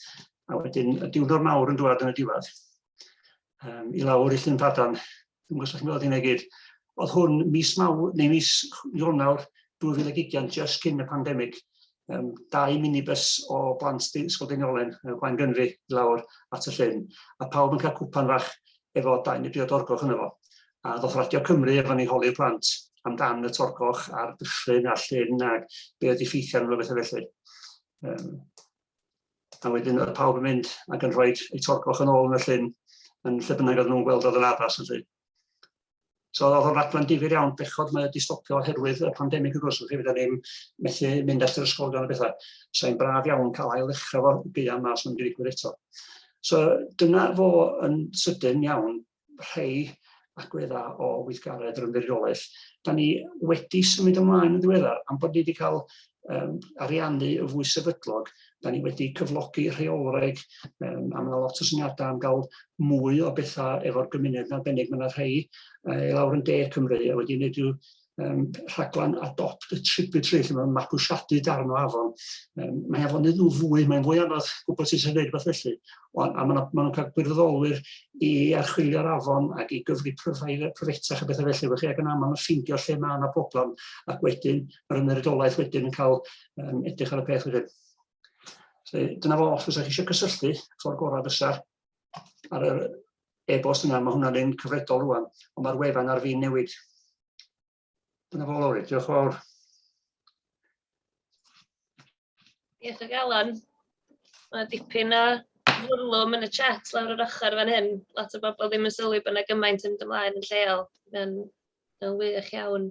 F: A wedyn y diwrnod mawr yn dwad yn y diwedd, um, i lawr i Llyn Padan, dwi'n gwybod chi'n gweld hynna gyd, oedd hwn mis maw, neu mis Ionawr 2020, just cyn y pandemig, um, dau minibus o blant Ysgol Deiniolen, Gwain Gynfi, i lawr at y llyn, a pawb yn cael cwpan fach efo dau neu dri o dorgoch yno fo. A ddoth Radio Cymru efo ni holi'r plant amdan y torgoch a'r dyffryn a'r llyn ac be oedd effeithiau arno bethau felly. Um, a wedyn oedd pawb yn mynd ac yn rhoi eu torgoch yn ôl yn y llyn yn lle bynnag oedd nhw'n gweld oedd yn addas felly. So oedd o'n raglen difyr iawn, bechod mae wedi stopio oherwydd y pandemig wrth gwrs, felly fydda ni'n methu mynd at yr ysgol gan y bethau. So i'n braf iawn cael ail ddechrau fo buan mas sy'n mynd i ddigwydd eto. So dyna fo yn sydyn iawn rhai agweddau o weithgaredd yr ymddiriolaeth. Da ni wedi symud ymlaen yn ddiweddar am bod ni wedi cael um, ariannu yn fwy sefydlog. Da ni wedi cyflogi rheolwraig, um, a mae lot o syniadau am gael mwy o bethau efo'r gymuned yn arbennig. Mae yna rhai uh, lawr yn de Cymru a wedi gwneud rhyw um, rhaglen adopt y tributary lle mae'n mabwysiadu darn o afon. Um, mae afon yn fwy, mae'n fwy anodd gwybod sut sy'n gwneud rhywbeth felly. O, a maen nhw'n cael gwirfoddolwyr i archwilio'r afon ac i gyfri pryfetach a bethau felly. Felly ac yn aml yn ffeindio lle mae yna broblem ac wedyn yr ymddiriedolaeth wedyn yn cael um, edrych ar y peth wedyn. So, dyna fo, os ydych chi eisiau cysylltu, ffordd gorau fysa ar yr e-bost yna, mae hwnna'n un cyfredol rwan, ond mae'r wefan ar fin newid. Dyna fo, Lowri, diolch yn fawr.
A: Diolch ag Alan. Mae dipyn o fwrlwm yn y chat lawr yr ochr fan hyn. Lot o bobl ddim yn sylwi bod yna gymaint yn ymlaen yn lleol. Mae'n wych iawn.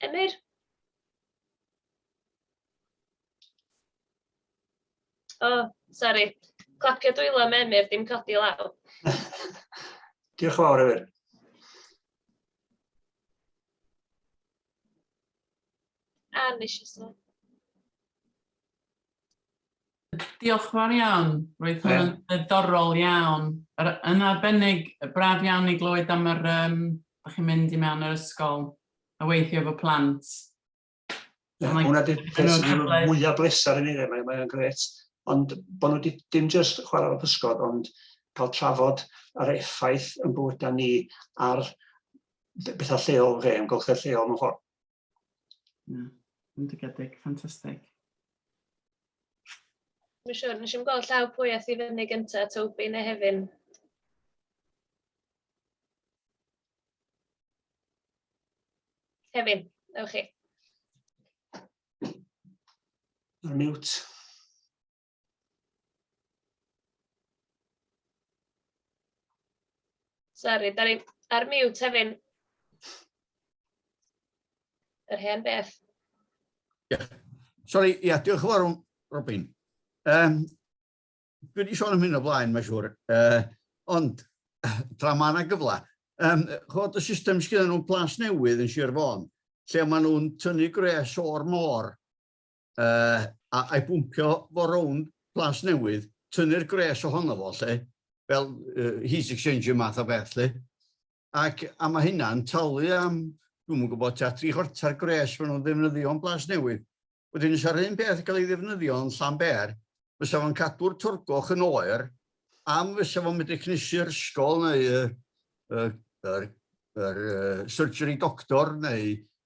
A: Emyr? O, oh, sori. Clapio dwylo am Emyr, dim codi law.
F: Diolch yn fawr, Emyr.
A: A, nes i sôn.
G: Diolch yn fawr iawn, roedd hwn yn ddiddorol iawn, yn arbennig, braf iawn i glywed am yr yym dach chi'n mynd i mewn yr ysgol a weithio efo plant.
F: Yeah, like, hwnna di'r peth sy'n mwyaf bleser i ni, mae'n mae gret. Ond bod nhw di, dim jyst chwarae o'r pysgod, ond cael trafod yr effaith yn bywydau ni ar bethau lleol fe, yn golchau lleol mewn ffordd. Na, bendigedig,
G: ffantastig.
A: Mae'n siŵr, nes i'n gweld llaw pwy a thi fyny gyntaf, Toby neu Hefin. Hefin, ewch chi.
F: Ar mute.
A: Sori, da ni ar mute hefyd. Yr hen beth. Ie. Yeah.
D: Sori, ia, diolch yn fawr, Robin. Um, dwi wedi sôn am hyn o blaen, mae'n siŵr. Uh, ond, tra mae yna gyfle, um, chod y system sydd nhw'n plas newydd yn Sir Fôn, lle maen nhw'n tynnu gres o'r môr uh, a, a'i bwmpio fo rownd plas newydd, tynnu'r gres ohono fo lle, fel uh, heat exchanger math o beth lle. Ac a mae hynna'n talu am, dwi'n mwyn gwybod, ta tri chwarter gres fan nhw'n ddefnyddio yn blas newydd. Wedyn, os ar un peth yn cael ei ddefnyddio yn llan ber, fysa fo'n cadw'r torgoch yn oer, am fysa fo'n medru cnesu'r ysgol neu y, y, y, y, y surgery doctor neu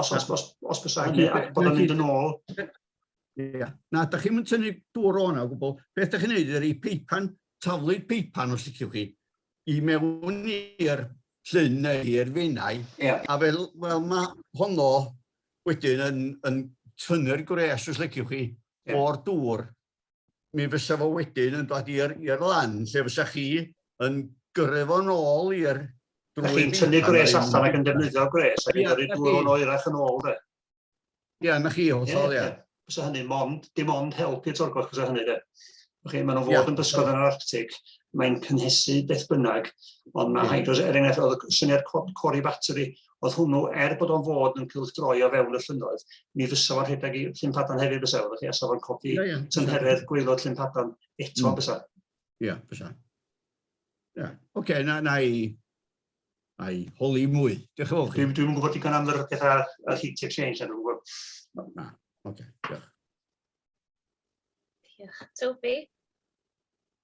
F: Os, os, os, os bysa hynny, a bod yn mynd yn ôl. Ia.
D: Na, da chi'n mynd tynnu dŵr o'na o gwbl. Beth da chi'n neud ydy peipan, taflu'r peipan os liciwch chi, i mewn i'r llun neu i'r fenau. Yeah. A fel, fel mae honno wedyn yn, yn tynnu'r gwres os liciwch chi yeah. o'r dŵr mi fysa fo wedyn yn dod i'r lan lle fysa chi yn gyrru fo'n ôl i'r drwy... Chi'n tynnu
F: gwres allan ac yn defnyddio gwres ac yn gyrru dŵr o'n oerach yn ôl de? Ia, na chi, hollol, ia.
D: Fysa
F: hynny mond,
D: dim
F: ond help i'r
D: torgoch
F: fysa hynny de. Chi, maen nhw'n fod yn bysgod yn yr Arctic, mae'n cynhesu beth bynnag, ond mae hydros, er enghraifft, oedd y syniad cori batri, Oedd hwnnw, er bod o'n fod yn cylchdroi o fewn y llynnoedd, mi fysa fo'n rhedeg i Llynpadan hefyd fysa, oeddech chi, a sa fo'n codi yeah, yeah. tymheredd gweilod Llynpadan eto mm. fysa. Ie, yeah, fysa. Ie,
D: yeah. oce, okay, na, na i, na i holi mwy. Diolch yn fawr chi. Dwi'n dwi gwybod digon am yr
F: pethau a heat exchange, na dwi'n gwybod. Na,
D: oce, okay, diolch. Diolch.
A: Toby?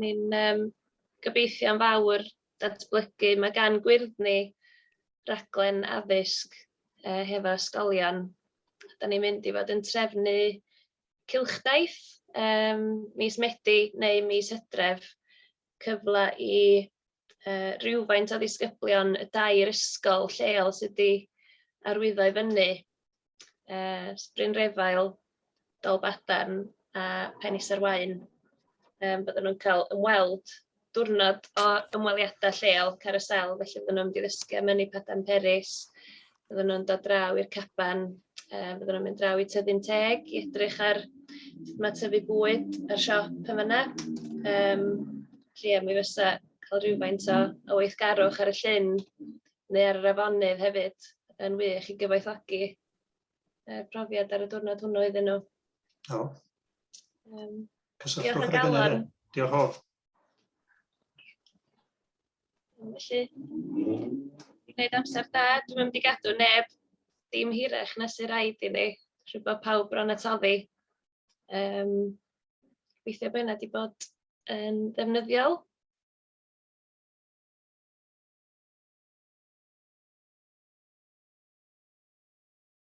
A: Ni'n um, gobeithio am fawr datblygu. Mae gan gwyrddni raglen addysg uh, hefo ysgolion. Da ni'n mynd i fod yn trefnu cilchdaith um, mis Medi neu mis Hydref cyfle i uh, rhywfaint o ddisgyblion y dair ysgol lleol sydd wedi arwyddo i fyny. Uh, Bryn Refael, Dolbadarn a Penis ar Wain. Um, bydden nhw'n cael ymweld diwrnod o ymweliadau lleol Carousel, felly bydden nhw'n mynd i ddysgu am ynni Padan Peris, Fyddan nhw'n dod draw i'r caban, yy fyddan nhw'n mynd draw i Tyddyn Teg i edrych ar sut mae tyfu bwyd a'r siop yn fanna. Yym felly ia, mi fysa cael rhywfaint o o weithgarwch ar y llyn neu ar yr afonydd hefyd yn wych i gyfoethogi yy profiad ar y diwrnod hwnnw iddyn nhw. O.
F: Um,
A: Cysylltwch ar y galon. Diolch o. Felly, gwneud amser da, dwi'm yn mynd i gadw neb dim hirach na sy'n rhaid i ni, rwy bod pawb bron at oddi. Um, Gobeithio bod hynna wedi bod yn ddefnyddiol.